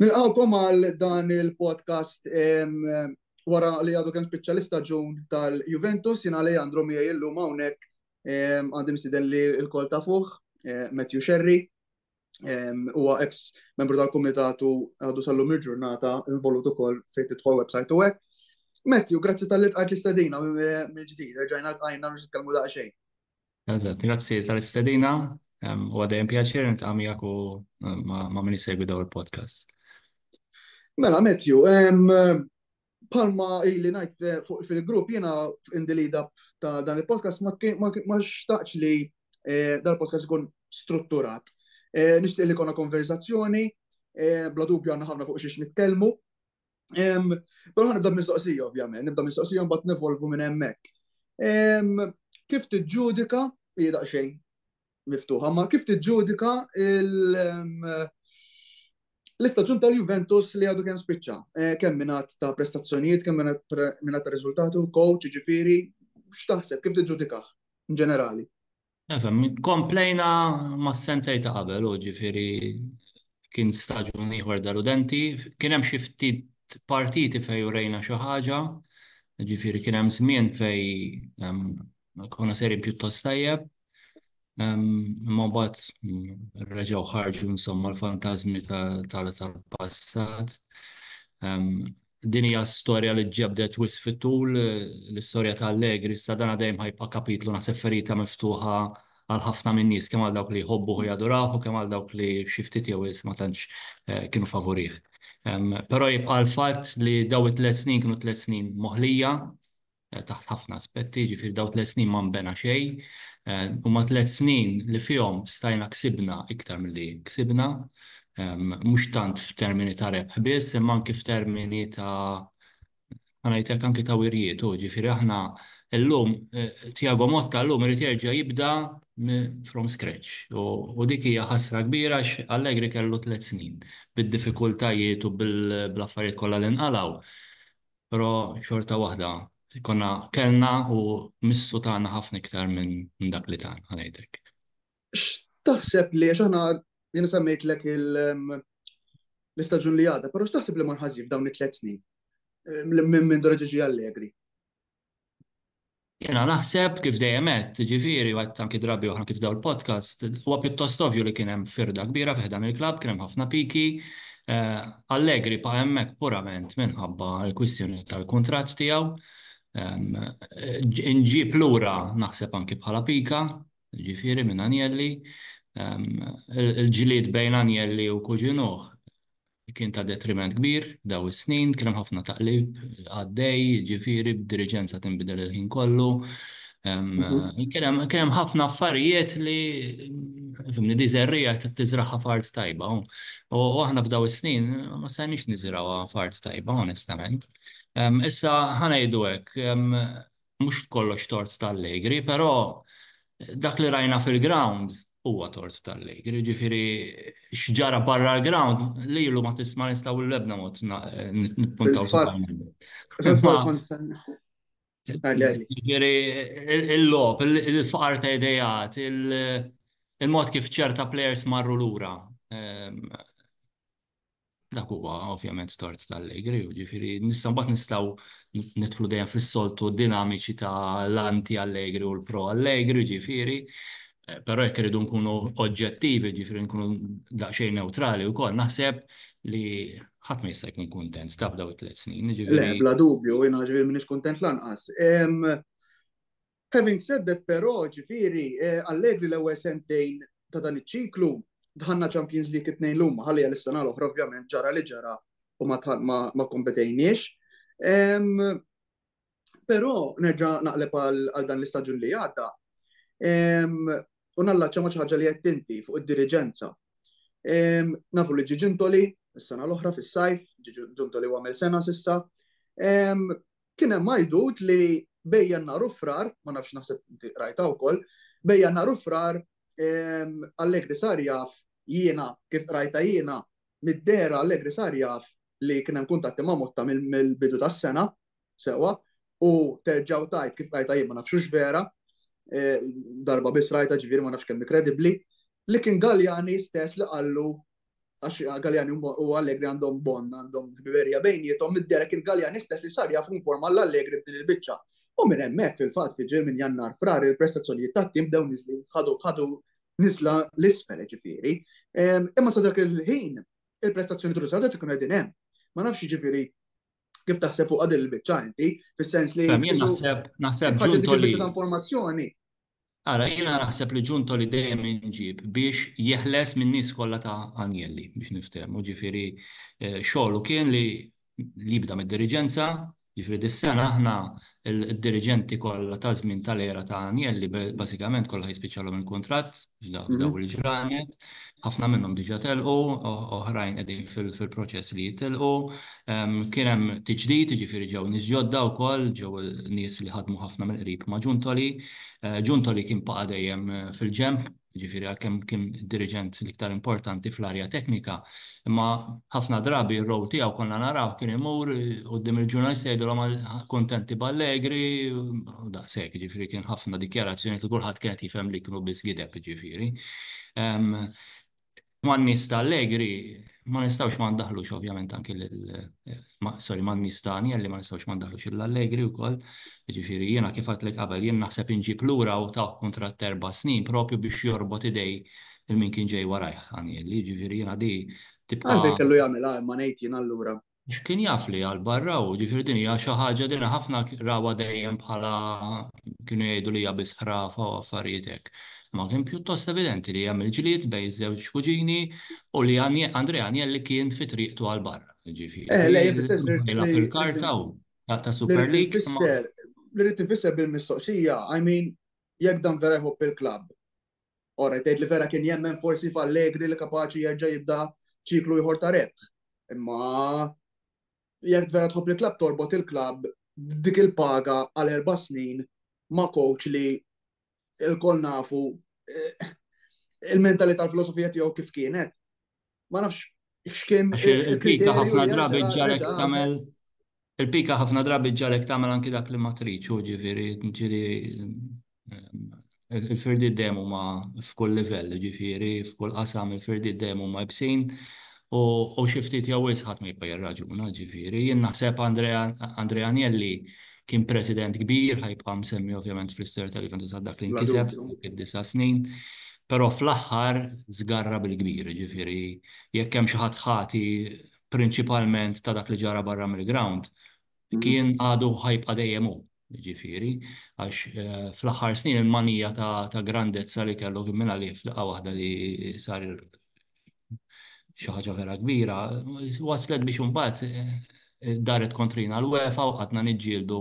Nilqawkom għal dan il-podcast wara li għadu kemm spiċċa l-istaġun tal-Juventus, jien għalija għandru miegħi illum hawnhekk għandi msiden li l-kol ta' fuq, eh, Matthew Sherry, huwa ex membru tal-Kumitatu għadu sal-lum il-ġurnata involut ukoll fejn tidħol website u hekk. Matthew, grazzi tal-li tqajt l-istadina mill-ġdid, rġajna tqajna biex nitkellmu daqsxejn. Eżatt, grazzi tal-istedina, u għadajem pjaċir nitqa' miegħek u ma' min jsegwi daw il-podcast. Mela, Matthew, palma ili najt fil-grupp jena indilida ta' dan il-podcast ma xtaqx li eh, dan il-podcast ikun strutturat. Eh, Nishtiq li konna konverzazzjoni, eh, bla dubju għanna ħafna fuq xiex nitkellmu, Però nibda mistoqsija, ovvjament, nibda mistoqsija mbagħad nevolvu minn hemmhekk. Kif tiġġudika, hi daqsxejn miftuħa, ma kif tiġġudika l-istaġun tal-Juventus li għadu kemm spiċċa? Eh, kemm minat ta' prestazzjonijiet, kemm minat ta' riżultatu, coach, ġifiri, x'taħseb, kif tiġġudikaħ, in ġenerali? Nifhem, komplejna mas-sentej ta' qabel u ġifieri kien staġun ieħor deludenti. Kien hemm xi ftit partiti fejn urejna xi ħaġa, ġifieri kien hemm żmien fejn konna sejrin pjuttost tajjeb. Imma mbagħad reġgħu ħarġu insomma l-fantażmi tal-passat. Din hija storja li ġġebdet wisq fit-tul, l-istorja ta' Allegri, iżda dan dejjem ħa jibqa' kapitlu naħseb ferita miftuħa għal ħafna min-nies, kemm għal dawk li jħobbuh u jadurawh u kemm għal dawk li xi ftit jew wisq ma tantx kienu favurih. Però jibqa' l-fatt li dawn it-tliet snin kienu tliet snin moħlija, taħt ħafna aspetti, jiġifieri dawn tliet snin ma nbena xejn. Huma tliet snin li fihom stajna ksibna iktar milli ksibna, mhux tant f'termini ta' rebħ biss, imma anki f'termini ta' ħa ngħidlek anki ta' wirjiet hu. Jiġifieri aħna llum, Tiago Motta llum irid jerġa' jibda from scratch. U dik hija ħasra kbira għax Allegri kellu tliet snin bid-diffikultajiet u bl-affarijiet kollha li nqalgħu. Però xorta waħda konna kellna u missu tana ħafna iktar minn dak li tana, ngħidlek. X'taħseb li għax aħna jiena semmejtlek l-istaġun li għadha, però x'taħseb li mar ħażin f'dawn it-tliet snin minn Dora Ġiġi Allegri? Jiena naħseb, kif dejjem għedt, jiġifieri, u għedt anki drabi oħra anki f'dawn il-podcasts, huwa pjuttost ovvju li kien hemm firda kbira fi ħdan il-klabb, kien hemm ħafna piki. Allegri baqa' hemmhekk purament minħabba l-kwistjoni tal-kuntratt tiegħu. Inġieb lura naħseb anki bħala pika, jiġifieri minn Agnelli. Il-ġlied bejn Agnelli u Cuginuh Kien ta' detriment kbir dawn is-snin, kien hemm ħafna taqlib għaddej, jiġifieri b'diriġenza tinbidel il-ħin kollu. Kien hemm ħafna affarijiet li, fhimni, di żerriegħa trid tiżragħha f'art tajba. U aħna f'dawn is-snin ma stajniex niżrgħuha f'art tajba, onestament. Issa, ħa ngħidu hekk, mhux kollox tort t'Allegri, però dak li rajna fil-ground huwa tort t'Allegri. Ġifieri x'ġara barra l-ground lilu ma tista' ma nistgħu l-ebda mod nippuntaw Ġifieri il-logħob, il-faqar ta' idejat, il-mod kif ċerta plejers marru lura. Dak huwa ovvjament tort tal-Allegri, ġifieri nista' mbagħad nistgħu nidħlu dejjem fis-soltu dinamiċi ta' l-anti Allegri u l-pro Allegri, ġifieri, eh, però jekk iridu nkunu oġġettivi, ġifieri nkunu daqsxejn neutrali wkoll, naħseb li ħadd ma jista' jkun kuntent ta' daw it-tliet snin. Le, bla dubju, jiena ġifieri m'iniex kuntent lanqas. Having said that però, ġifieri, Allegri l-ewwel sentejn ta' dan iċ-ċiklu, dħalna Champions League it-tnejn li huma, ħalli għal is-sena l-oħra ovvjament ġara li ġara u ma kompetejniex. Però nerġa' naqleb għal dan l-istaġun li għadda u nallaċċa ma' xi ħaġa li għedt inti fuq id-diriġenza. Nafu li ġie Giuntoli s-sena l-oħra fis-sajf, ġie Giuntoli u għamel sena s'issa. kien hemm għajdut li bejn Jannar u Frar, ma nafx naħseb inti qrajtha wkoll, bejn Jannar u Frar Allegri sar jaf jiena kif qrajtha jiena mid-dehra Allegri sar jaf li kien hemm kuntatti ma' Motta mill-bidu tas-sena sewwa u terġgħu tajt kif qrajtha jien ma nafx vera darba biss rajta ġifieri ma nafx kemm kredibbli li kien Galjani stess li qallu għax Galjani u Allegri għandhom bon, għandhom biberija bejnietom, mid-derek il-Galjani stess li sar jafu informa l-Allegri b'din il-bicċa. U minn hemmhekk fil-fatt fi minn jannar frar il-prestazzjonijiet tat-tim bdew niżlin ħadu ħadu niżla l-isfel ġifieri. Ehm, imma sa dak il-ħin il-prestazzjoni trużata tkun qegħdin hemm. Ma nafx jiġifieri kif taħseb fuq għadil il-bicċa inti, fis-sens li. Naħseb naħseb ġun tolli. informazzjoni Ara, jiena naħseb li Ġunto li dejjem inġib biex jeħles min-nies kollha ta' Agnelli, biex niftehmu, ġifieri xogħlu kien li jibda mid-diriġenza, ġifieri dis-sena aħna d-diriġenti kollha taż-żmien tal-era ta' Agnelli bażikament kollha jispiċċalhom il-kuntratt f'dawn il-ġranet, Ħafna minnhom diġà telqu, oħrajn qegħdin fil-proċess li jitilqu. Kien hemm tiġdid, jiġifieri ġew nies ġodda wkoll, ġew nies li ħadmu ħafna mill-qrib ma' Giuntoli. Giuntoli kien baqa' dejjem fil-ġenb, jiġifieri għalkemm kien id-diriġent l-iktar importanti fl-arja teknika, imma ħafna drabi r-role tiegħu konna narawh kien imur quddiem il-ġurnalisti jgħidilhom kuntenti b'Allegri u daqshekk, jiġifieri kien ħafna dikjarazzjonijiet li kulħadd kien qed jifhem li kienu biss gideb, jiġifieri. Man-nies ta' Allegri ma nistgħux ma ndaħħlux ovvjament anki lil, sorry, man-nies ta' Agnelli ma nistgħux ma ndaħħlux lil Allegri wkoll. Jiġifieri jiena kif għedtlek qabel jien naħseb inġib lura u tawh kuntratt ta' erba' snin proprju biex jorbot idej lil min kien ġej warajh Agnelli. Jiġifieri jiena di tibqa'. Għalfejn kellu jagħmilha imma ngħid jien allura? Għax kien jaf li għal barra u ġifieri din hija xi ħaġa din ħafna rawha dejjem bħala kienu jgħidu li hija biss ħrafa u affarijiet hekk. Imma kien pjuttost evidenti li hemm il-ġlied bejn iż-żewġ kuġini u li Andrea Agnelli kien fi triqtu għal barra. Ġifieri il-karta u ta' Super League. Li rrid infisser bil-mistoqsija, I mean, jekk dan vera jħobb il-klabb, All right, tgħid li vera kien jemmen forsi f'Allegri li kapaċi jerġa' jibda ċiklu ieħor ta' rebħ. Imma jekk vera tħobb li klabb torbot il-klabb dik il-paga għal erba' snin ma' coach li il-kol nafu eh, il-mentalità l-filosofija tiegħu kif kienet. Ma nafx x'kien. Il-pika ħafna drabi ġarek tagħmel il-pika ħafna drabi ġarek tagħmel anki dak li ma trid, u ġifieri ġieli il-firdi dejjem huma f'kull livell, ġifieri f'kull qasam il-firdi dejjem huma ibsin u xi ftit jew wisħat ma jibqa' jirraġuna, ġifieri. Jien naħseb Andrea Agnelli kien president kbir, ħajbqa' msemmi ovvjament fl-istorja tal-Juventus għal dak li nkiseb id-disa' snin, però fl-aħħar żgarra bil-kbir, jiġifieri jekk hemm xi ħadd ħati prinċipalment ta' dak li ġara barra mill-grawnd, kien għadu ħajbqa' dejjem hu, jiġifieri, għax fl-aħħar snin il-manija ta' grandezza li kellu kien mingħalih f'daqqa waħda li sar xi ħaġa vera kbira, waslet biex imbagħad eh, daret kontrina l-UEFA u qatna niġġieldu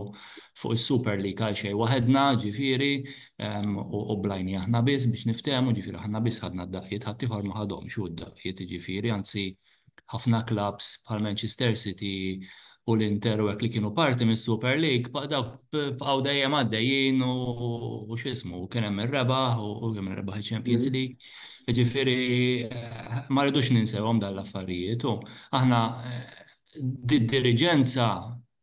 fuq is-Super League għal xejn waħedna, ġifieri, ehm, u blajni aħna biss biex niftehmu, ġifieri aħna biss ħadna d-daqqiet, ħadd ieħor ma ħadhomx u d-daqqiet, ġifieri, anzi ħafna klabs bħal Manchester City u l-Inter u hekk li kienu parti mis-Super League baq dawk bqgħu dejjem għaddejjin u x'ismu kien hemm ir-rebaħ u kemm ir-rebaħ il-Champions League. Jiġifieri ma rridux ninsewhom dan l-affarijiet u aħna did-diriġenza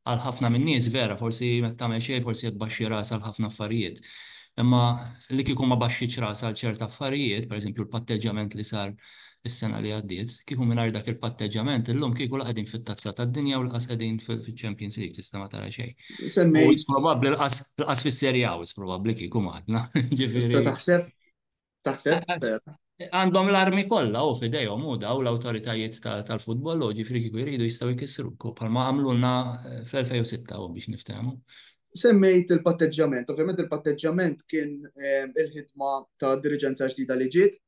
għal ħafna min-nies vera forsi ma tagħmel xejn forsi qed tbaxxi rasha għal ħafna affarijiet. Imma li kieku ma baxxitx rasha għal ċerti affarijiet, pereżempju l-patteġġjament li sar is-sena li għaddiet, kieku mingħajr dak il-patteġġjament illum kieku la qegħdin fit-Tazza tad-Dinja u lanqas qegħdin fiċ-Champions League, tista' ma tara xejn. U wis probabbli lanqas fis-Serie A wis probabbli kieku ma għadna, ġifieri. Taħseb? Taħseb? Għandhom l-armi kollha hu f'idejhom hu dawn l-awtoritajiet tal-futbol hu, ġifieri kieku jridu jistgħu jkissruk bħalma għamlulna fl-2006 hu biex niftehmu. Semmejt il-patteġġjament, ovvjament il-patteġġjament kien il-ħidma ta' diriġenza ġdida li ġiet,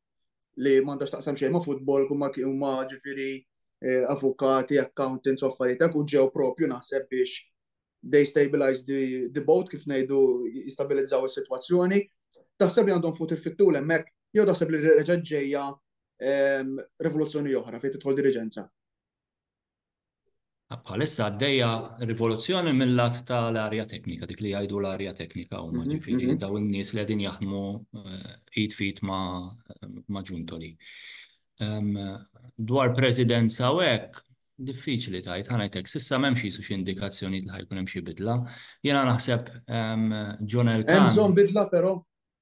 li m'għandha x'taqsam xejn ma' futbol kumma huma ġifieri eh, avukati, accountants u affarijiet u ġew propju naħseb biex they stabilize the, the boat kif ngħidu jistabilizzaw is-sitwazzjoni. Taħseb li għandhom fut il-fittul hemmhekk jew taħseb li reġa' ġejja ehm, rivoluzzjoni oħra fejn tidħol diriġenza. Bħalissa għaddejja rivoluzzjoni mill-lat ta' l-arja teknika, dik li jgħidu l-arja teknika u maġifiri daw il-nies li għedin jaħdmu eh, id fit ma' ġuntoli. Dwar presidenza u hekk, diffiċli tajt, ħanajtek, sissa memx jisu xie indikazzjoni li ħajkun hemm xi bidla. Jena naħseb John Elkan. Hemm bidla però?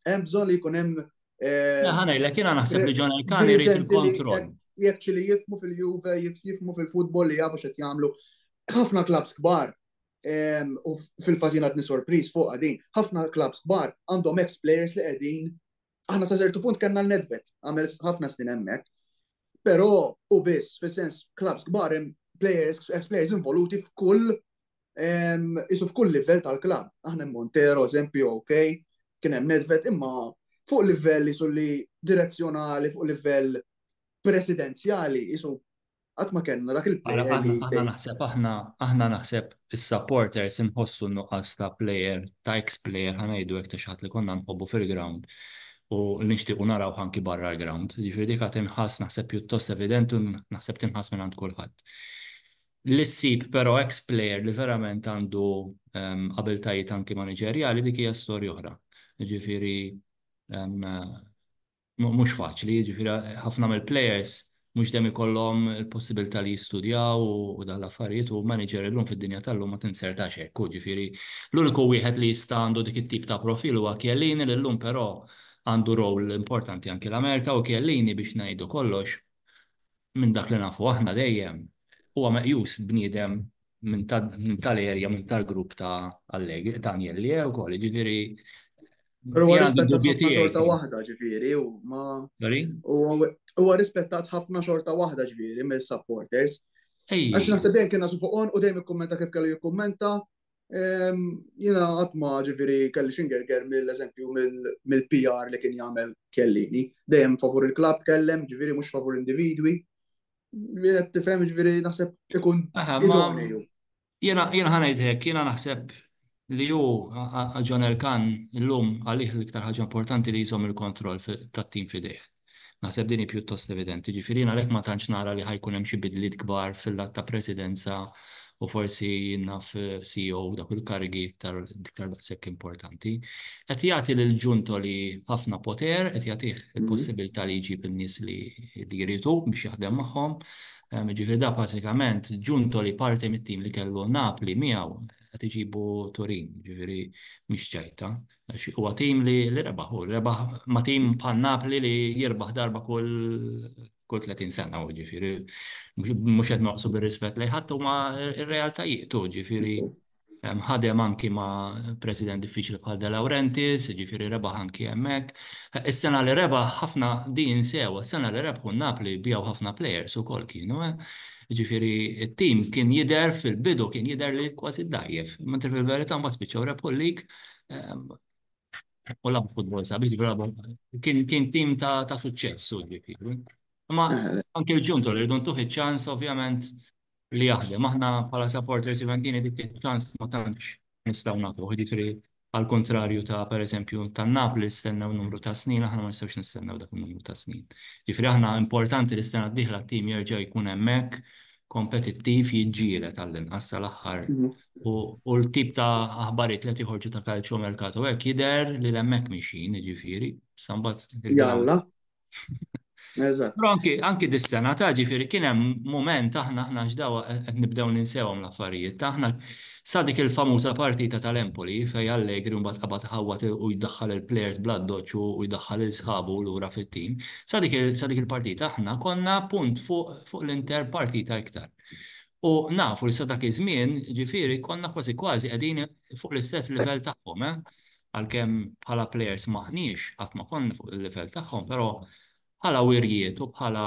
Hemm bżonn li jkun hemm. Eh, Ħana jilek jiena naħseb li John Elkani jrid il-kontroll. Jekk li jifmu fil-Juve, jekk jifmu fil-futbol li jafu x'qed jagħmlu. Ħafna klabs kbar ehm, u fil-fażina tni sorpriż fuq għadin, ħafna klabs kbar għandhom ex players li qegħdin aħna sa ċertu punt kellna l-Nedvet, għamel ħafna snin hemmhekk. Però u biss, fis-sens klabs kbar hemm players, ex players involuti f'kull Isu f'kull livell tal-klabb, aħna Montero, eżempju, ok, kien hemm Nedved, imma fuq livell isu li direzzjonali, fuq livell presidenzjali, isu għat ma kellna dak il-player. Aħna naħseb, aħna naħseb is-supporters inħossu nuqqas ta' player, ta' ex-player, ħanajdu hekk ta' xi ħadd li konna nħobbu fil-ground u nixtiequ naraw ħanki barra l-ground. Jiġifieri dik tinħass naħseb pjuttost evidenti u naħseb tinħass minn għand kulħadd. li ssib però eks plejer li verament għandu abiltajiet anki maniġerjali dik hija storja oħra. Jiġifieri mhux faċli, jiġifieri ħafna mill-plejers mhux dejjem ikollhom il-possibilità li jistudjaw u dawn l-affarijiet u maniġer illum fid-dinja tal-lum ma tinzertax hekk hu, jiġifieri l-uniku wieħed li jista' għandu dik it-tip ta' profil huwa Chiellini li llum però għandu role importanti anki l-Amerika u Chiellini biex ngħidu kollox minn dak li nafu aħna dejjem, huwa meqjus bniedem minn tal-erja, minn tal-grupp ta' Allegri, ta' Agnelli wkoll, jiġifieri. Però huwa rispettat ħafna xorta waħda, ġifieri, u ma. Sorry? Huwa rispettat ħafna xorta waħda, ġifieri, mis-supporters. Għax naħseb dejjem kien nasu fuq on u dejjem ikkummenta kif kellu jikkummenta, Jina għatma ġifiri kelli xingerger mill-eżempju mill-PR li kien jagħmel kellini. Dejjem favur il-klab kellem, ġifiri mhux favur individwi. Ġifiri qed tifhem ġifiri naħseb ikun idonju. Jena ħanajt hekk, jena naħseb li ju John Elkan illum għalih l-iktar ħaġa importanti li jżomm il-kontroll tat-tim fidejh. Naħseb din hi pjuttost evidenti. Jiġifieri jien għalhekk ma tantx nara li ħa jkun hemm xi bidliet kbar fil-lat ta' Presidenza u forsi naf CEO dak il-karigi iktar iktar daqshekk importanti. Qed jagħti lil Giuntoli ħafna poter, qed jagħtih il-possibilità li jġib in-nies li li jrid hu biex jaħdem magħhom. Jiġifieri da pratikament Giuntoli parti mit-tim li kellu Napli miegħu qed iġibu Turin, jiġifieri mhix ċerta. Għax huwa tim li rebaħ u rebaħ ma' tim bħal Napoli li jirbaħ darba kull 30 sena, ġifieri mhux qed noqsu bir-rispett lejn ħadd huma r-realtajiet u ġifieri ħadem anki ma' president diffiċli bħal De Laurentiis, ġifieri rebaħ anki hemmhekk. Is-sena li rebaħ ħafna din insewha, is-sena li rebħu n-Napoli biegħu ħafna plejers ukoll kienu, ġifieri t-tim kien jidher fil-bidu kien jidher li kważi dgħajjef, mentri fil-verità mbagħad spiċċaw rebħu l-league u labu futbol sabi, ġigrabu, kien kien tim ta' ta' suċċess u ġifieri. Ma anke l-ġuntu li rridu ntuħ iċ-ċans ovvjament li jaħdem. Aħna bħala supporters Juventini dik iċ-ċans ma tantx nistgħu nagħtuh, ġifieri għal kontrarju ta' pereżempju ta' Napli stennew numru ta' snin, aħna ma nistgħux nistennew dak numru ta' snin. Ġifieri aħna importanti li s-sena d-dieħla t-tim jerġa' jkun hemmhekk kompetittiv jiġġieled għall-inqas sal-aħħar U l-tip ta' aħbarijiet li qed joħorġu ta' calciomercato hekk jidher li hemmhekk mixjin, jiġifieri, sa mbagħad. Jalla. Eżatt. Però anki anki dis-sena ta' ġifieri kien hemm mument aħna aħna x'dawa qed nibdew ninsewhom l-affarijiet. Aħna sa dik il-famuża partita tal-Empoli fejn Allegri mbagħad qabad iħawwad u jdaħħal il-plejers bl-addoċċ u jdaħħal lil sħabu lura fit-tim. Sa dik il-partita aħna konna punt fuq l-inter partita iktar. U nafu li sa dak iż-żmien, jiġifieri, konna kważi kważi qegħdin fuq l-istess livell tagħhom, eh. Għalkemm bħala plejers m'aħniex, qatt ma konna fuq il-livell tagħhom, però bħala wirjiet u bħala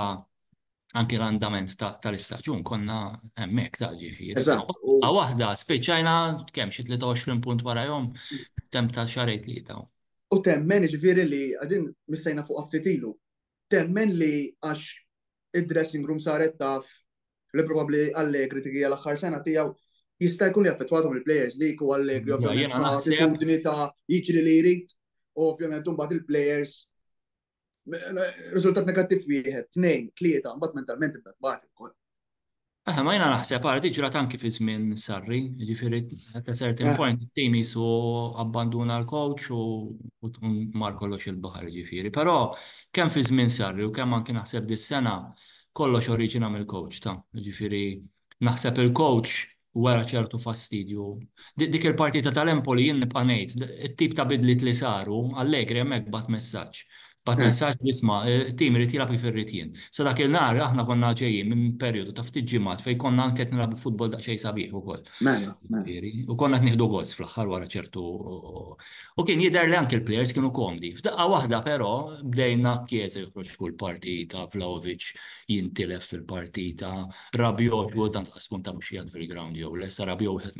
anki l-andament tal-istaġun konna hemmhekk ta' jiġifieri. Eżatt. Daqqa waħda spiċċajna kemm xi 23 punt warajhom f'temp ta' xahrejn tlieta. U temmen jiġifieri li qegħdin missejna fuqha ftit ilu. Temmen li għax id-dressing room saret taf li probabbli Allegri dik hija l-aħħar sena tiegħu jista' jkun li affettwathom il-players dik u Allegri ovvjament attitudni ta' jiġri li jrid u ovvjament imbagħad il-players riżultat negattiv wieħed, tnejn, tlieta, mbagħad mentalment ibda tbati wkoll. Aha, ma jiena naħseb għara di ġrat anki fi żmien Sarri, jiġifieri at a certain Eh. point it-tim jisu abbanduna l-coach u u tkun mar kollox il-baħar jiġifieri. Però kemm fi żmien Sarri u kemm anki naħseb dis-sena kollox oriġina mill-coach ta'. Jiġifieri naħseb il-coach wera ċertu fastidju. Di- Dik il-partita tal-Empoli jien nibqa' ngħid, it-tip ta' bidliet li saru, Allegri hemmhekk bagħat messaġġ. Bagħat messaġġ li isma', it-tim irid jilgħab kif irrid jien. Sa dak il-nhar aħna konna ġejjin minn perjodu ta' ftit ġimgħat fejn konna anke qed nilgħabu futbol daqsxejn sabiħ ukoll. Mela, mela. U konna qed nieħdu gost fl-aħħar wara ċertu u kien jidher li anke l-plejers kienu komdi. F'daqqa waħda però bdejna Chiesa joħroġ kull partita, Vlahovic jintilef fil-partita, Rabiot li tant qas tkun taf hux qiegħed fil-ground jew le, sa Rabiot wieħed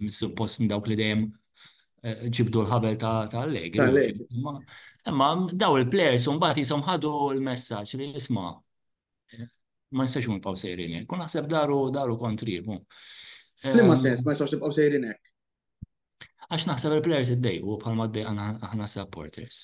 mis-suppost minn dawk li dejjem ġibdu l-ħabel ta' Allegri. Imma daw il-players un bat jisom ħadu l-messaġġ li jisma' ma nistax nibqgħu sejrin hekk. U naħseb daru daru kontribu. Flimma sens ma nistax nibqgħu sejrin hekk. Għax naħseb il-players id-dej u bħalma d-dej aħna supporters.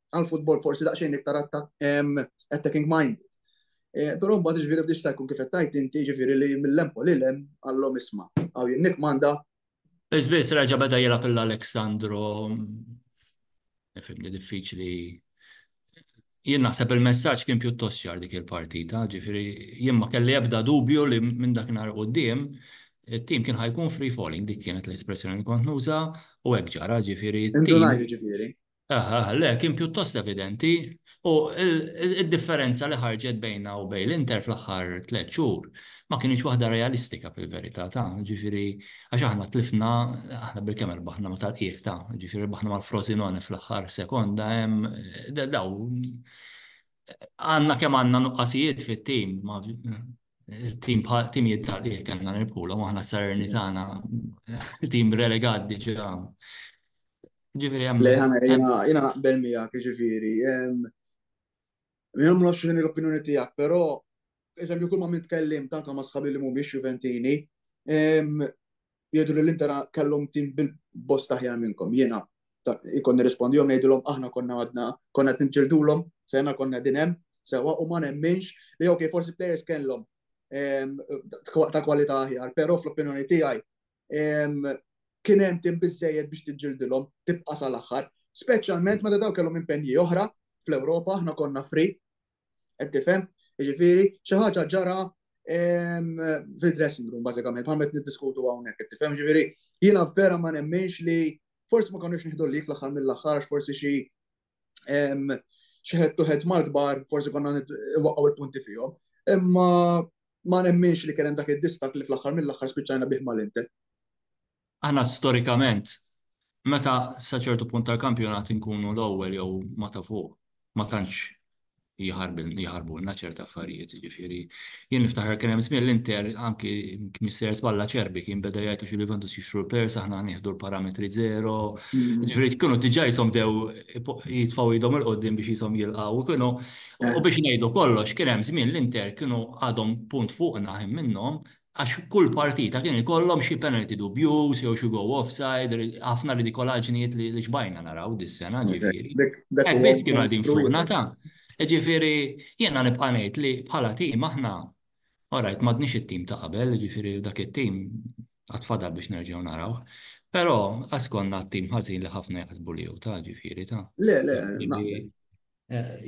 għal futbol forsi daqsxejn iktar attacking mind. Eh, però mbagħad ġifieri f'dix jkun kif qed tajt inti ġifieri li mill-lempo li lem għallhom isma' għaw jinnik manda. Biss reġa' beda jilgħab l-Aleksandro nifhimni diffiċli jien naħseb il-messaġġ kien pjuttost ċar dik il-partita, ġifieri jien ma kelli ebda dubju li minn dak nhar quddiem it-tim kien ħajkun free falling dik kienet l-espressjoni li kont nuża u hekk ġara ġifieri. Indunajt ġifieri. Aha, aha, le, kien pjuttost evidenti u d-differenza li ħarġet bejnna u bejn l-Inter fl-aħħar tliet xhur ma kinitx waħda realistika fil-verità, ta', jiġifieri, għax aħna tlifna, aħna bilkemm irbaħna ma' tal-qiegħ, ta', jiġifieri rbaħna mal-Frosinone fl-aħħar sekonda, hemm, dawn, għandna kemm għandna nuqqasijiet fit-tim, ma, tim tim jittali kellna nirpula maħna sarni tagħna tim relegat diġà. Ġifieri hemm. Le ħana jiena naqbel miegħek ġifieri. Jien ma nafx l-opinjoni tiegħek, però eżempju kull ma minn tkellim tanka ma sħabi li mhumiex Juventini, jgħidu li l-Inter kellhom tim bil-bosta ħjar minnkom. Jiena ikun nirrispondihom ngħidilhom aħna konna għadna konna qed niġġildulhom, sena konna din hemm, sewa u ma nemminx li ok forsi players kellhom ehm, ta' kwalità aħjar, però fl-opinjoni tiegħi ehm, kien hemm tim biżejjed biex tiġġildilhom tibqa' sal-aħħar, speċjalment meta daw kellhom impenji oħra fl-Ewropa, aħna konna free, Qed tifhem? Jiġifieri xi ħaġa ġara fil-dressing room bażikament, bħalmet niddiskutu hawnhekk, qed tifhem? Jiġifieri jiena vera ma nemminx li forsi ma konniex nieħdu lik fl-aħħar mill-aħħar forsi xi xi ħed tuħed mal-kbar forsi konna waqgħu l-punti fihom. Imma ma nemminx li kien hemm dak id-distak li fl-aħħar mill-aħħar spiċċajna bih mal-Inter. Aħna storikament meta sa ċertu punt tal-kampjonat inkunu l-ewwel jew ma' ta' fuq ma tantx jħarbulna ċerti affarijiet, jiġifieri jien niftakar kien hemm żmien l-Inter anki Mister Spalla Acerbi kien beda jgħid għax il-Juventus jixtru l-players aħna nieħdu l-parametri zero, jiġifieri kienu diġà qishom bdew jitfgħu idhom 'il quddiem biex qishom jilqgħu u kienu u biex ngħidu kollox kien hemm żmien l-Inter kienu għadhom punt fuqna ħin minnhom għax kull partita kien ikollhom xi penalty dubjuż jew xi goal offside, ħafna ridikolaġnijiet li xbajna naraw dis-sena ġifieri. Hekk biss kienu qegħdin fuqna ta'. Ġifieri jiena nibqa' ngħid li bħala tim aħna orajt m'għadniex it-tim ta' qabel, ġifieri dak it-tim għad fadal biex nerġgħu narawh. Però qas konna t-tim ħażin li ħafna jaħsbu li hu ta' ġifieri ta'. Le, le, naqbel.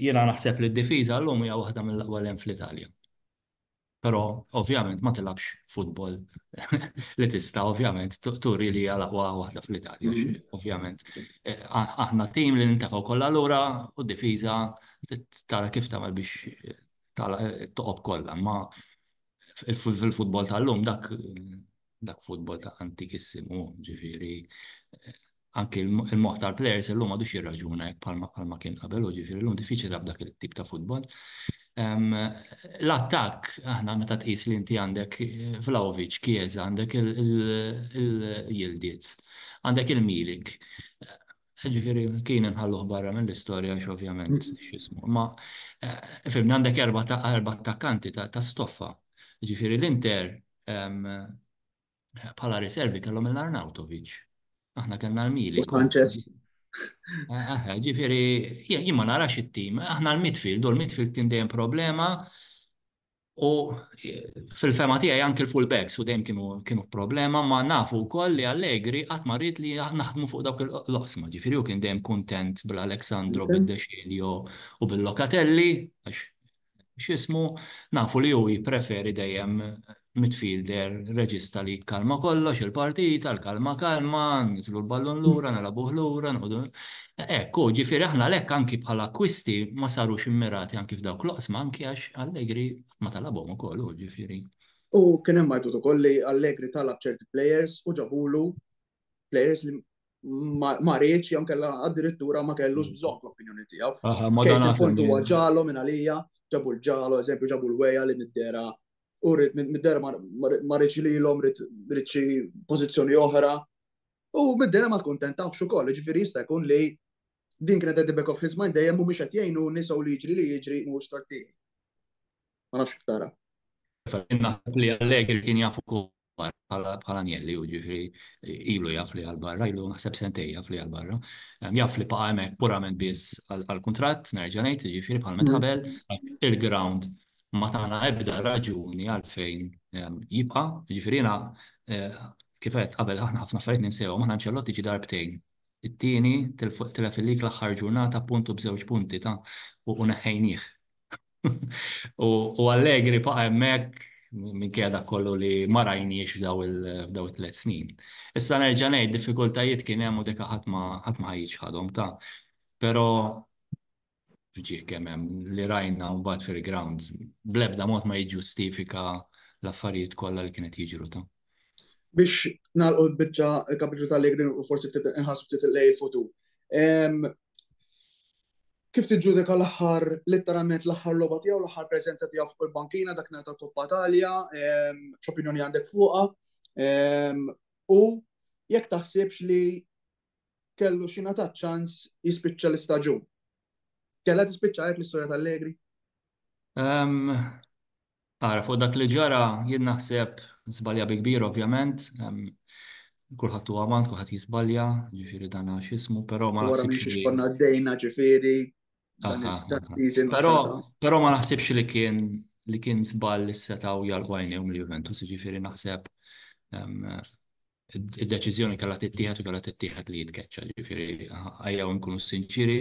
Jiena naħseb li d-difiża llum hija waħda mill-aqwa li hemm fl-Italja. Però ovvjament ma tilgħabx futbol li tista' ovvjament turi li hija l-aqwa waħda fl-Italja. Ovvjament aħna tim li nintefgħu kollha lura u d-difiża tara kif tagħmel biex tagħlaq it-toqob kollha. Imma fil-futbol tal-lum dak dak futbol ta' antikissimu, ġifiri, eh, anki il-moħ tal-players l-lum għadu xie raġuna jek palma kien qabel u ġifiri l-lum diffiċi lab dak il-tip ta' futbol. L-attak, aħna meta tqis li inti għandek eh, Vlaovic, Kieza, għandek il-Jildiz, għandek il-Milik, eh, ġifiri kien nħalluħ barra minn l-istoria xovjament mm. xismu. Ma, fimni għandek erba ta' attakkanti ta' stoffa. Ġifiri l-Inter bħala riservi kellhom il-Arnautovic. Aħna kellna l-Mili. Aħna, ġifiri, jien ma narax it-tim, aħna l-midfield, u l-midfield kien dejjem problema, u fil-fema tiegħi anke l-fullbacks u dejjem kienu problema, ma nafu wkoll li Allegri qatt ma rrid li naħdmu fuq dawk il-loqsma, ġifiri, u kien dejjem kuntent bil-Alexandro, bil-Dexilio u bil-Locatelli, għax x'ismu, nafu li hu jippreferi dejjem midfielder reġista li jikkalma kollox, il-partita, l-kalma kalma, niżlu l-ballun lura, nilgħabuh lura, noħdu. Hekk hu, ġifieri aħna għalhekk anki bħala akkwisti ma sarux immirati anki f'dawk l-oqsma anki għax Allegri qatt ma talabhom ukoll hu, ġifieri. U kien hemm għajtut ukoll li Allegri talab ċerti players u ġabulu players li ma rridx jew kellha addirittura ma kellux bżonn l-opinjoni tiegħu. Kejs il-punt huwa ġalo minn għalija, ġabu l-ġalo, eżempju ġabu l-weja li middera u rrid middera ma rridx lilhom rrid xi pożizzjoni oħra. U middera ma tkuntentawx ukoll, ġifieri jista' jkun li din kienet qed back of his mind dejjem mhumiex qed jgħinu nisaw li jiġri li jiġri mhux tortini. Ma nafx ktara. Naħseb li Allegri kien jafu bħala Agnelli, u ġifri ilu jaf li għal-barra, ilu naħseb sentej jaf li għal-barra. Jaf li baqa hemmhekk purament biss għal-kuntratt, nerġa' ngħid, ġifri bħal meta qabel, il-ground ma tagħna ebda raġuni għalfejn jibqa', ġifri jiena kif għedt qabel aħna ħafna affarijiet ninsewhom, aħna Ancelotti ġie darbtejn. It-tieni tilef il-lig l-aħħar ġurnata punt u b'żewġ punti ta' u neħħejnieh. U Allegri baqa' hemmhekk minkejja dak kollu li ma rajniex f'daw it-tliet snin. Issa nerġa' ngħid, diffikultajiet kien hemm u deka ħadd ma ħa jiċħadhom, ta. Però ġie kemm hemm li rajna mbagħad fil-ground bl-ebda mod ma jiġġustifika l-affarijiet kollha li kienu qed jiġru, ta. Biex nagħlqu l-biċċa, il-kapitlu ta' Allegri u forsi ftit inħarsu ftit lejn il-futur. Kif tiġġudika l-aħħar, litteralment l-aħħar logħba tiegħu, l-aħħar preżenza tiegħu fuq il-bankina dak nhar tal-Coppa Italia, x'opinjoni għandek fuqha, u jekk taħsibx li kellu xi ngħata ċans jispiċċa l-istaġun? Kellha tispiċċa hekk l-istorja t'Allegri? Ara, fuq dak li ġara, jien naħseb żbalja bi kbir ovvjament. Kulħadd huwa uman, kulħadd jiżbalja, ġifieri dan għax x'ismu, però ma Wara minn naħsibx xiex li konna għaddejna ġifieri dan Aha, is- dan aha. season u Però s-sena ta' però ma naħsibx li kien li kien żball li setgħu jagħlqu għajnejhom lil Juventus, jiġifieri naħseb em, id-deċiżjoni kellha tittieħed u kellha tittieħed li jitkeċċa. Ġifieri ejjew inkunu sinċieri,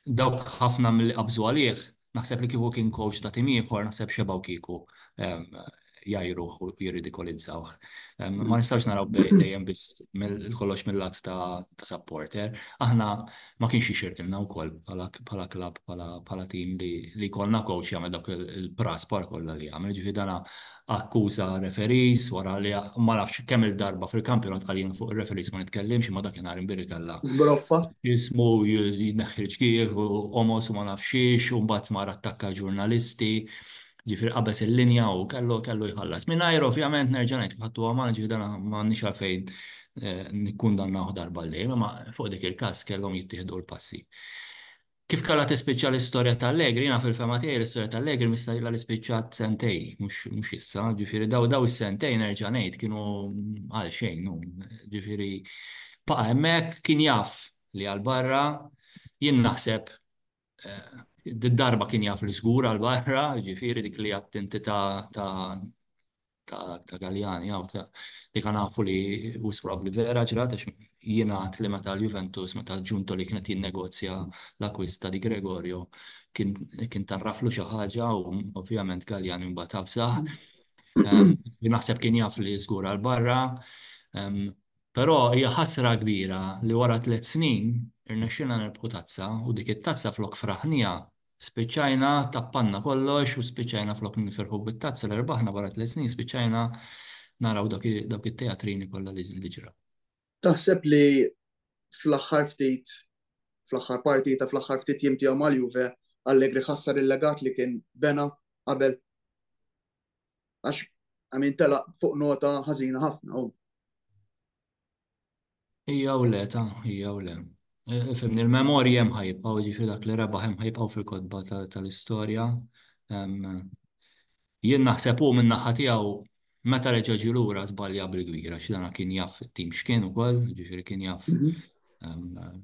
dawk ħafna milli qabżu għalih, naħseb li kieku kien coach ta' tim ieħor naħseb xebgħu kieku jgħajruh u jirridikolizzawh. Ma nistgħux naraw dejjem biss kollox mill-lat ta' supporter. Aħna ma kienx jixirqilna wkoll bħala klabb, bħala tim li jkollna coach jagħmel dawk il-praspar kollha li għamel. Jiġifieri dan akkuża referees wara li ma nafx kemm-il darba fil-kampjonat qal jien fuq ir-referees ma nitkellimx imma dakinhar imbierek kellha. Żbroffa. Jismu jneħħi l-ġgierħ u qomos u ma nafx xiex u mbagħad mar attakka ġurnalisti. Ġifieri qabeż il-linja u kellu kellu jħallas. Mingħajr ovvjament nerġa' ngħid kif ħadtuha magħna ġifieri dan m'għandniex għalfejn nikkundannawh darba għal dejjem, imma fuq dik il-każ kellhom jittieħdu l-passi. Kif kellha tispiċċa l-istorja ta' Allegri, jiena fil-fehma tiegħi l-istorja ta' Allegri mista' ilha li spiċċat sentejn, mhux issa, ġifieri dawn dawn is-sentejn nerġa' ngħid kienu għalxejn, ġifieri baqa' hemmhekk, kien jaf li għall-barra, jien naħseb Did-darba kien jaf li żgur għal barra, jiġifieri dik li għad inti ta' ta' ta' Galliani hawn ta' li kan nafu li wisq probabbli vera ġrat għax jingħad li meta l-Juventus meta Giuntoli kien qed jinnegozja l-akkwist ta' Di Gregorio kien kien tgħarraflu xi ħaġa u ovvjament Galliani mbagħad avżah. Naħseb kien jaf li żgur għal barra. Però hija ħasra kbira li wara tliet snin irnexxielna nirbħu tazza u dik it-tazza flok fraħniha spiċċajna tappanna kollox u spiċċajna flok nifirħu bit-tazza li rbaħna wara tliet snin spiċċajna naraw dawk it-teatrini kollha li ġraw. Taħseb li fl-aħħar ftit fl-aħħar partita fl-aħħar ftit jiem tiegħu mal-Juve Allegri ħassar il-legat li kien bena qabel? Għax, għamin tela fuq nota ħazina ħafna. Ija u le, ta' ija u le. E, e, Fimni, il-memorji jem ħajibqaw, ġifri dak li rebaħ jem ħajibqaw fil-kodba tal-istoria. Jien naħseb u minn naħa tiegħu meta reġa' ġi lura żbalja bil-kbira x'dana kien jaf it-tim x'kien ukoll, ġifieri kien jaf mhm.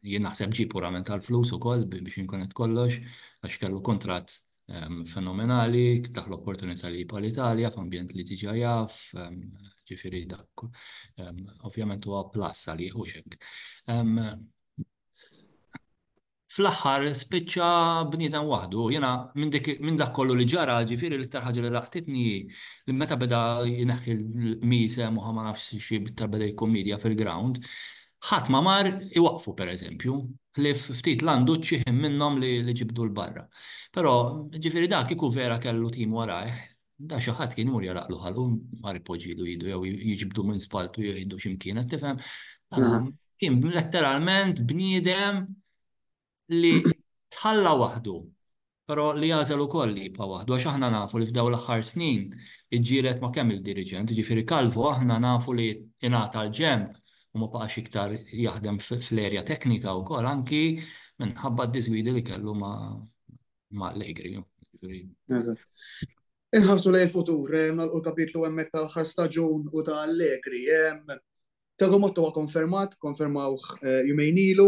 jien naħseb ġi purament tal-flus ukoll biex inkun qed kollox għax kellu kuntratt fenomenali, taħ l-opportunità li jibqa' l-Italja f'ambjent li diġà jaf, ġifieri dak ovvjament huwa plus għalih u xek. Fl-aħħar spiċċa bniedem waħdu, jiena minn dak kollu li ġara, ġifieri l-iktar ħaġa li laqtitni li meta beda jneħħi l-qmiesem u ħa ma nafx xi iktar beda jikkummedja fil-ground, Ħadd ma mar iwaqqfu pereżempju, ħlief ftit landuċċi ħin minnhom li ġibdu 'l barra. Però, jiġifieri da kieku vera kellu tim warajh, da xi ħadd kien imur jagħlaqlu ħalqu, mar ipoġġilu idu jew jiġbdu minn spalltu jieħdu xi mkien, qed tifhem? Kien letteralment bniedem li tħalla waħdu, però li għażel ukoll li jibqa' waħdu għax aħna nafu li f'dawn l-aħħar snin iġġieled ma' kemm-il diriġent, jiġifieri Calvo aħna nafu li ingħata l-ġenb u ma baqax iktar jaħdem fl-erja teknika wkoll anki minħabba d-diżgwidi li kellu ma' Allegri. Inħarsu lejn il-futur, nagħlqu l-kapitlu hemmhekk tal-aħħar staġun u ta' Allegri. Thiago Motta huwa konfermat, konfermawh jumejn ilu,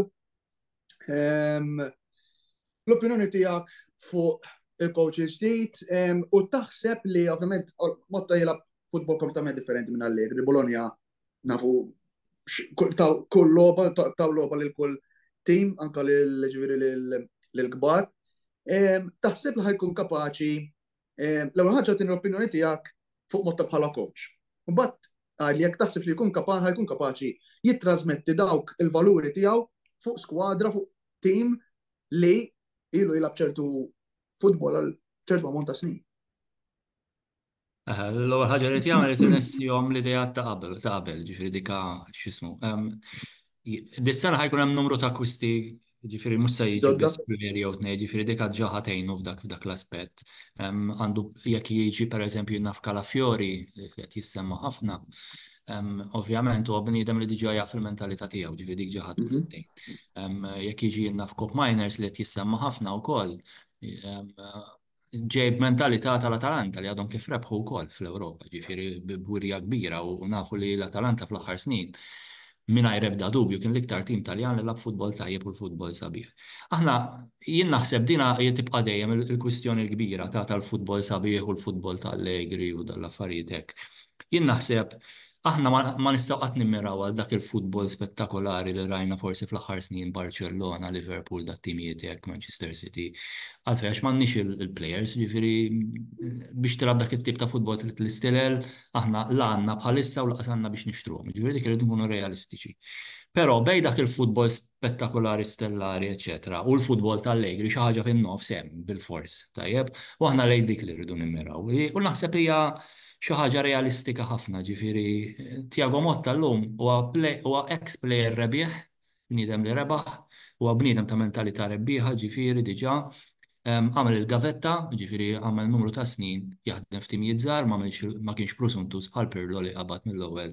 L-opinjoni tiegħek fuq il-coach il-ġdid u taħseb li ovvjament Motta jilab futbol kompletament differenti minn għalli, li Bologna nafu kull loba, taw loba li kull tim, anka li l-ġviri l-gbar. Taħseb li ħajkun kapaċi L-ewwel ħaġa tieni l-opinjoni tiegħek fuq mod ta' bħala coach. Imbagħad qal jekk taħsibx li jkun kapaċi ħajkun kapaċi jittrasmetti dawk il-valuri tiegħu fuq skwadra fuq tim li ilu jilgħab ċertu futbol għal ċertu ammont ta' snin. L-ewwel ħaġa li jagħmel li tinessihom l-idea ta' qabel, ta' qabel, ġifieri dika x'ismu. Dis-sena ħajkun hemm numru ta' kwisti, ġifiri mhux se jiġu biss premjeri jew tnej, ġifiri dik ġa ħatejnu f'dak f'dak l-aspett. Għandu jekk jiġi pereżempju naf Kalafiori li qed jissemma ħafna, ovvjament huwa bniedem li diġà jaf il-mentalità tiegħu, ġifiri dik ġa ħadd tnej. Jekk jiġi naf Kop Miners li qed jissemma ħafna wkoll, ġej b'mentalità tal-Atalanta li għadhom kif rebħu wkoll fl-Ewropa, ġifieri b'wirja kbira u nafu li l-Atalanta fl-aħħar snin mingħajr ebda dubju kien l-iktar tim Taljan li lagħab futbol tajjeb u l-futbol sabiħ. Aħna jien naħseb din hija tibqa' dejjem il-kwistjoni l-kbira ta' tal-futbol sabiħ u l-futbol ta' Allegri u dan l-affarijiet hekk. Jien naħseb Aħna ma nistgħu qatt nimmiraw għal dak il-futbol spettakolari li rajna forsi fl-aħħar snin Barċellona, Liverpool, dat-timijiet hekk, Manchester City. Għalfejn għax m'għandniex il-plejers, jiġifieri biex tilgħab dak it-tip ta' futbol trid l-istilel, aħna la għandna bħalissa u lanqas għandna biex nixtruhom. Jiġifieri dik irid inkunu realistiċi. Però bejn dak il-futbol spettakulari stellari eċċetera u l-futbol ta' Allegri xi ħaġa fin-nofs hemm bilfors, tajjeb? U aħna lejn dik li rridu nimmiraw. U naħseb hija xi ħaġa realistika ħafna, jiġifieri Thiago Motta llum huwa huwa ex player rebiħ, bniedem li rebaħ, huwa bniedem ta' mentalità rebbieħa, jiġifieri diġà Għamel il-gavetta, jiġifieri għamel numru ta' snin jaħdem f'timijiet żgħar, ma kienx prusuntuż bħal Pirlo li qabad mill-ewwel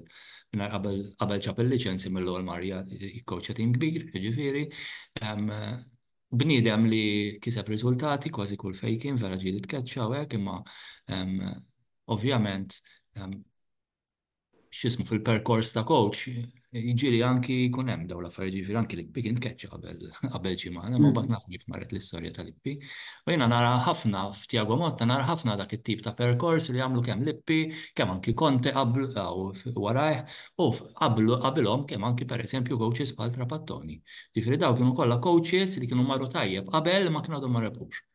mingħajr qabel qabel ġab il-liċenzja mill-ewwel mar jikkowċja tim kbir, jiġifieri bniedem li kiseb riżultati kważi kull fejn kien, vera ġieli tkeċċa u hekk imma ovvjament x'ismu fil-perkors ta' coach, jiġieli anki jkun hemm dawn l-affarijiet jiġifieri anki l-ippi kien tkeċċa qabel qabel xi ma hemm imbagħad nafu kif marret l-istorja tal-ippi. U jiena nara ħafna f'Tiago Motta nara ħafna dak it-tip ta' perkors li għamlu kemm l-ippi, kemm anki Conte qablu u warajh u qablu qabilhom kemm anki pereżempju coaches bħal Trapattoni. Jiġifieri dawn kienu kollha coaches li kienu marru tajjeb qabel imma kien għadhom ma rebħux.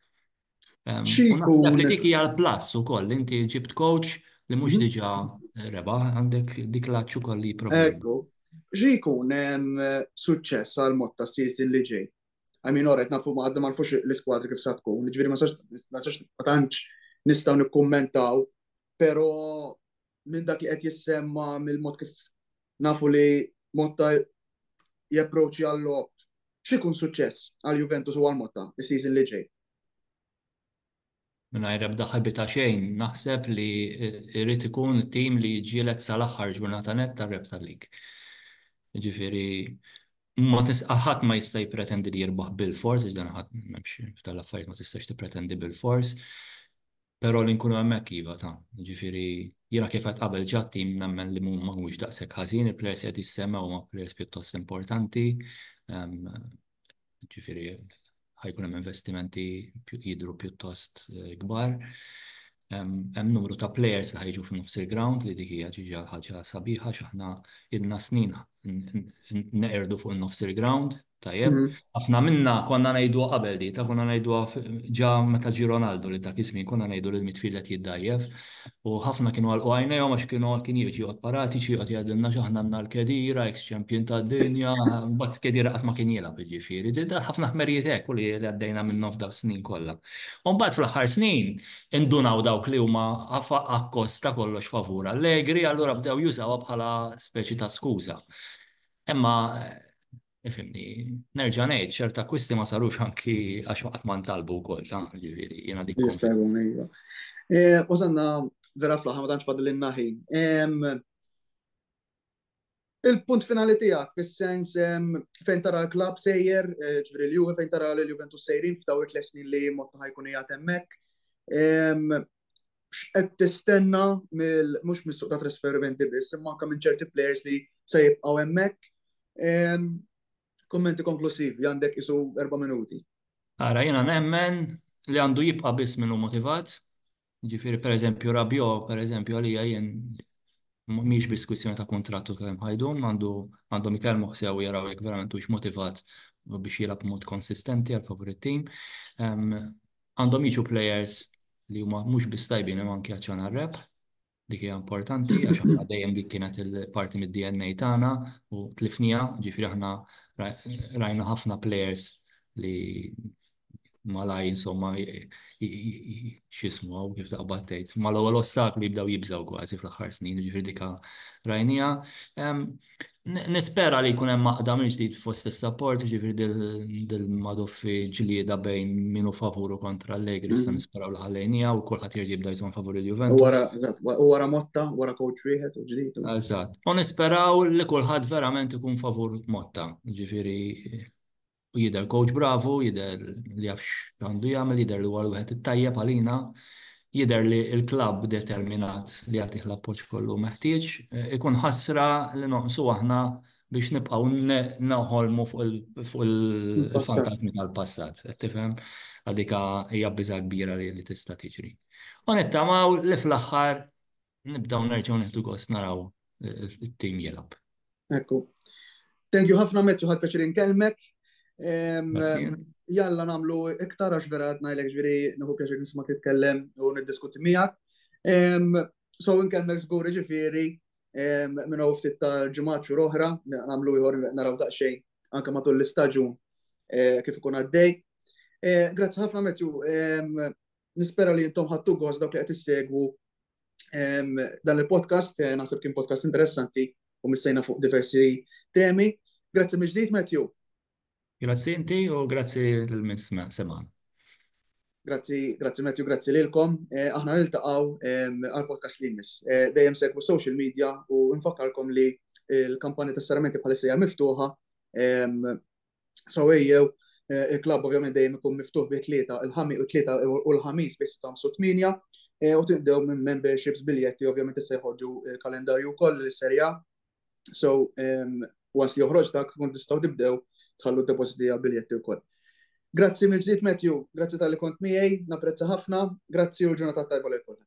Naħseb li dik hija l-plus ukoll, inti ġibt coach li mhux mhm. diġà eh, rebaħ għandek dik l-aċċu koll li Ekku, xi jkun hemm eh, suċċess għal mod ta' season li ġej. Għamin oret nafu ma għadda ma nfux l-iskwadri kif sa tkun, ġifieri ma sax ma tantx nistgħu nikkummentaw, però minn dak li qed jissemma mill-mod kif nafu li Motta japproċċi għall-lob x'ikun suċċess għal Juventus u għal Motta is-season li ġej? Mingħajr ebda ħabita xejn, naħseb li jrid ikun tim li jiġġieled sal-aħħar ġurnata net tar-rep tal-lig. Ġifieri ma tisqa' ħadd ma jista' jippretendi li jirbaħ bil-fors, għax dan ħadd m'hemmx tal-affarijiet ma tistax tippretendi bil-fors. Però li nkunu hemmhekk iva ta. Jiġifieri jiena kif għedt qabel ġa t-tim nemmen li ma huwiex daqshekk ħażin, il-players li qed jissemmew huma players pjuttost importanti. Jiġifieri ħa jkun hemm investimenti jidhru pjuttost kbar. Hemm numru ta' players li ħa jiġu f'nofs il-ground li dik hija ġiġa ħaġa sabiħa x'aħna ilna snin neqirdu fuq in-nofs il-ground. Tajjeb? Ħafna minna konna ngħiduha qabel di, ta' konna ngħiduha ġa meta ġie Ronaldo li dak iż-żmien konna ngħidu li l-midfield qed jiddgħajjef u ħafna kienu għalqu għajnejhom għax kienu kien jiġi joqgħod Paratici joqgħod jgħidilna għax aħna għandna l-Khedira, eks champion tad-dinja, imbagħad Khedira qatt ma kien jilgħab jiġifieri. Dar ħafna ħmerijiet hekk u li għaddejna minnhom f'dawk is-snin kollha. U mbagħad fl-aħħar snin indunaw dawk li huma akkost ta' kollox favur Allegri allura bdew jużawha bħala speċi ta' skuża. Imma, ifhimni, nerġa' ngħid, ċerti akkwisti ma sarux anki għax qatt ma ntalbu wkoll, ta', jiġifieri, jiena dik. Jista' jkun, iva. Wasalna vera fl-aħħar ma tantx fadlilna ħin. Il-punt finali tiegħek fis-sens fejn tara l-klabb sejjer, ġifieri l-Juve fejn tara lill-Juventus sejrin f'dawn it-tliet snin li Motta ħa jkun qiegħed hemmhekk. x'qed tistenna mill mhux mis-suq ta' trasferimenti biss, imma anke minn ċerti players li se jibqgħu hemmhekk. Kummenti konklusivi għandek isu erba' minuti. Ara, jiena nemmen li għandu jibqa' biss min hu motivat. Ġifieri pereżempju Rabiot, pereżempju għalija jien mhix biss kwistjoni ta' kuntratt u kemm ħajdum, għandhom ikellmuh sew u jaraw jekk verament hux motivat biex jilgħab b'mod konsistenti għal favur it-tim. Għandhom jiġu plejers li huma mhux biss tajbin imma anke għaċċan għar-rebħ. Dik hija importanti għax aħna dejjem dik kienet il-parti mid-DNA tagħna u tlifniha, ġifieri aħna rajna ħafna plejers li malaj insomma x'ismu kif taqbad tgħid. Mal-ewwel ostaklu jibdew jibżgħu kważi fl-aħħar snin, ġifieri dik rajniha. Nispera li jkun hemm għaqda mill-ġdid fost is-support, jiġifieri dil-madoffi ġlieda bejn min hu favur u kontra Allegri, issa nisperaw li ħallejniha u kulħadd jerġa' jibda jżomm favur il-Juventus. U wara Motta, wara coach wieħed u ġdid. Eżatt. U nisperaw li kulħadd verament ikun favur Motta, jiġifieri u jidher coach bravu, jidher li jaf x'għandu jagħmel, jidher li huwa l-wieħed it-tajjeb għalina, jidher li l-klabb determinat li jagħtih l-appoġġ kollu meħtieġ. Ikun ħasra li noqsu aħna biex nibqgħu noħolmu fuq il-fantasmi tal-passat. Qed tifhem? Dik hija biża' kbira li tista' tiġri. U nittamaw li fl-aħħar Nibdaw nerġgħu nieħdu gost naraw it-tim jilgħab. Ekku. Thank you ħafna Matthew ħadd peċir inkellmek. Jalla nagħmlu iktar għax vera qed ngħidlek ġifieri nieħu pjaċir nisma' titkellem u niddiskuti miegħek. So inkellmek żgur ġifieri minn hawn ftit tal-ġimgħat xhur oħra, nagħmlu ieħor naraw daqsxejn anke matul l-istaġun eh, kif ikun għaddej. Eh, grazzi ħafna Matthew. Nispera li intom ħadtu gost dawk li qed issegwu dan il-podcast, eh, naħseb kien podcast interessanti u missejna fuq diversi temi. Grazzi mill-ġdid, Matthew. Grazzi inti u grazzi l-miss sema. Grazzi, grazzi Matthew, grazzi lilkom. Eh, aħna niltaqgħu għal-podcast li jmiss. Eh, dejjem segwu social media u nfakkarkom li l-kampanja tas-saramenti bħalissa hija miftuħa So ejjew Eh, il-klab ovvjament dejjem ikun miftuħ bi tlieta il-ħamis u tlieta u l-ħamis bi sitta u tminja eh, u tibdew minn memberships biljetti ovvjament issa jħorġu il-kalendarju wkoll l-serja. So ehm, once li joħroġ dak kun tistgħu tibdew tħallu depositi għal biljetti wkoll. Grazzi mill ġdid Matthew, grazzi tal-li kont miegħi, napprezza ħafna, grazzi u l-ġurnata tajba lil kulħadd.